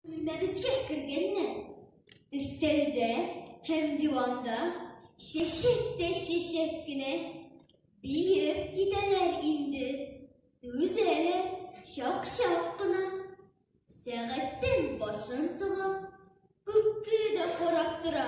Бүлмәбезгә кергәннән, өстәлдә һәм диванда чәчәк тә чәчәк кенә биеп китәләр инде. Түзәләр чак-чак кына. Сәгатьтән башын тыга, күккә дә карап тора.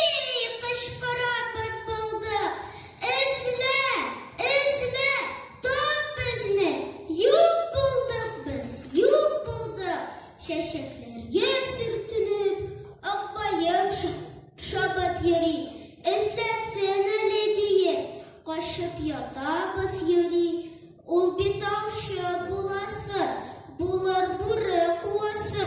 Ий, кычкырам бытбылдык, эзлә, эзлә, тап безне, юк булдык без, юк булдык! Чәчәкләргә сөртелеп, акбаем чабып йөри, эзләсен әле диеп, качып ятабыз, юри, ул бит аучы буласы, булыр, бүре куасы.